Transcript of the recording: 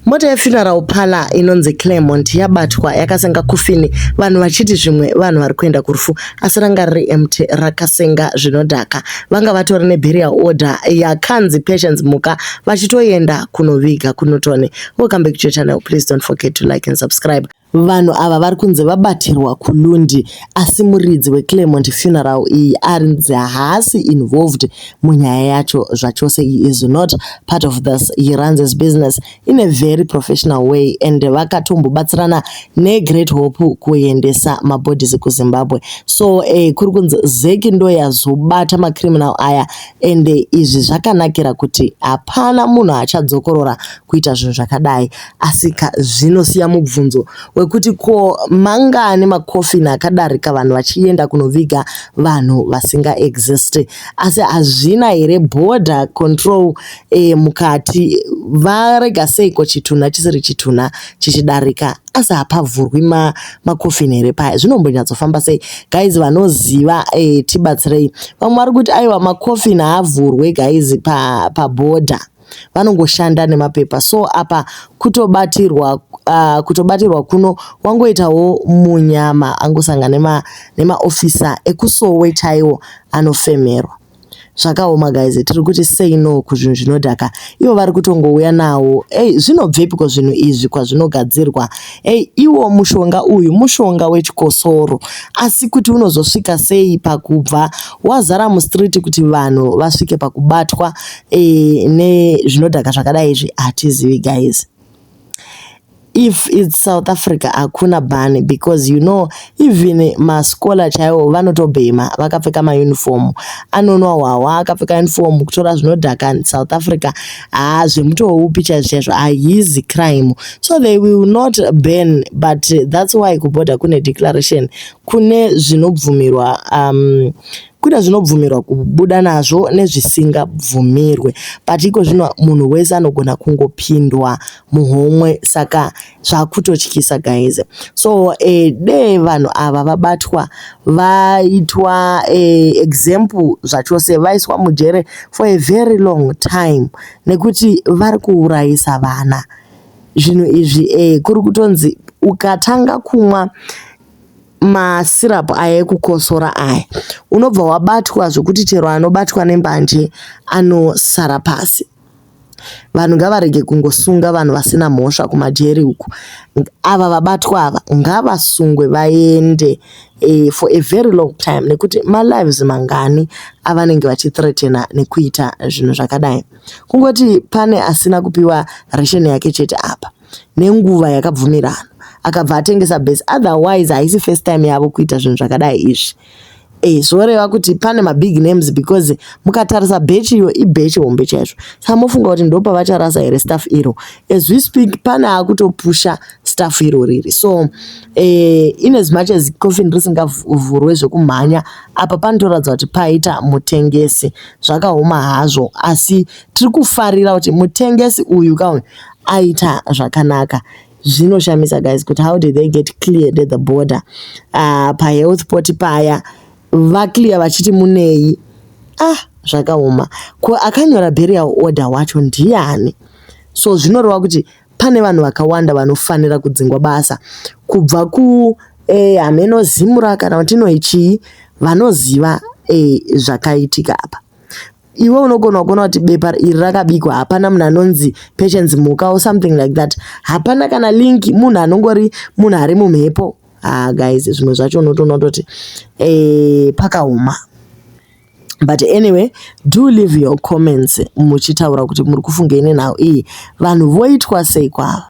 Mota yefuneral parlor inonzi Claremont yabatwa yakasenga kufini vanhu vachiti zvimwe vanhu vari kuenda kurufu asi ranga riri empty rakasenga zvinodhaka. Vanga vatori neburial order yakanzi Patience Mhuka vachitoenda kunoviga kuNorton. Welcome back to your channel. Please don't forget to like and subscribe. Vanhu ava vari kunzi vabatirwa kuLundi asi muridzi weClermont Funeral iyi arinzi haasi involved munyaya yacho zvachose. He is not part of this. He runs his business in a very professional way and vakatombobatsirana neGreat Hope kuendesa mabodies kuZimbabwe. So eh, kuri kunzi Zeki ndoyazobata macriminal aya and eh, izvi zvakanakira kuti hapana munhu achadzokorora kuita zvinhu zvakadai asi ka zvinosiya mubvunzo wekuti ko mangani makofini akadarika vanhu vachienda kunoviga vanhu vasinga exist asi hazvina here border control e, mukati varega seiko chitunha chisiri chitunha chichidarika asi hapavhurwi ma, makofini here paya zvinombanyatsofamba sei guys vanoziva e, tibatsirei vamwe vari kuti aiwa makofini haavhurwe guys paboda pa vanongoshanda nemapepa so apa kutobatirwa uh, kutobatirwa kuno wangoitawo munyama angosanga nema nemaofisa ekusowe chaiwo anofemerwa zvakaoma guys tiri kuti sei no kuzvinhu zvinodhaka ivo vari kutongouya nawo ei zvinobvepiko zvinhu izvi kwazvinogadzirwa ei iwo mushonga uyu mushonga wechikosoro asi kuti unozosvika sei pakubva wazara mustreet kuti vanhu vasvike pakubatwa e, nezvinodhaka zvakadai izvi hatizivi guys if its south africa hakuna bani because you know even mascola chaiwo vanotobhema vakapfeka mauniform anonwa hwahwa akapfeka uniform kutora zvinodhaka south africa haa zvemutowo upi chaizvo chaizvo hahizi crime so they will not ban but that's why kuborder kune declaration kune zvinobvumirwa um, kuita zvinobvumirwa kubuda nazvo nezvisingabvumirwe but iko zvino munhu wese anogona kungopindwa muhomwe saka zvakutotyisa guys so eh, dee vanhu ava vabatwa vaitwa eh, example zvachose vaiswa mujere for a very long time nekuti vari kuurayisa vana zvinhu izvi eh, kuri kutonzi ukatanga kumwa masyrup aya ekukosora aya unobva wabatwa zvekuti chero anobatwa nembanje anosara pasi. Vanhu ngavarege kungosunga vanhu vasina mhosva kumajeri uku. Ava vabatwa ava ngavasungwe vaende eh, for a very long time nekuti malives mangani avanenge vachithreatena nekuita zvinhu zvakadai. Kungoti pane asina kupiwa ration yake chete apa. nenguva yakabvumirana akabva atengesa base otherwise haisi first time yavo kuita zvinhu zvakadai izvi e, eh, zvoreva kuti pane mabig names because mukatarisa bechi iyo ibechi hombe chaizvo sa mofunga kuti ndopavacharasa here staff iro as we speak pane akutopusha staff iro riri so e, in as much as coffin risingavhurwe zvekumhanya apa panotoratidza kuti paita mutengesi zvakaoma hazvo asi tiri kufarira kuti mutengesi uyu kauyu aita zvakanaka zvinoshamisa guys kuti how did they get cleared at the border uh, ah, pahealth port paya vaclear vachiti munei ah zvakaoma ko akanyora burial order wacho ndiani so zvinoreva kuti pane vanhu vakawanda vanofanira kudzingwa basa kubva ku eh, hameno zimura kana kuti inoichii vanoziva eh, zvakaitika apa iwe unogona kuona kuti bepa iri rakabikwa hapana munhu anonzi patience mhuka or something like that hapana kana link munhu anongori munhu ari mumhepo ah guys zvimwe zvacho unotoona kutoti eh pakaoma but anyway do leave your comments muchitaura kuti muri kufungei nenhau iyi vanhu voitwa sei kwava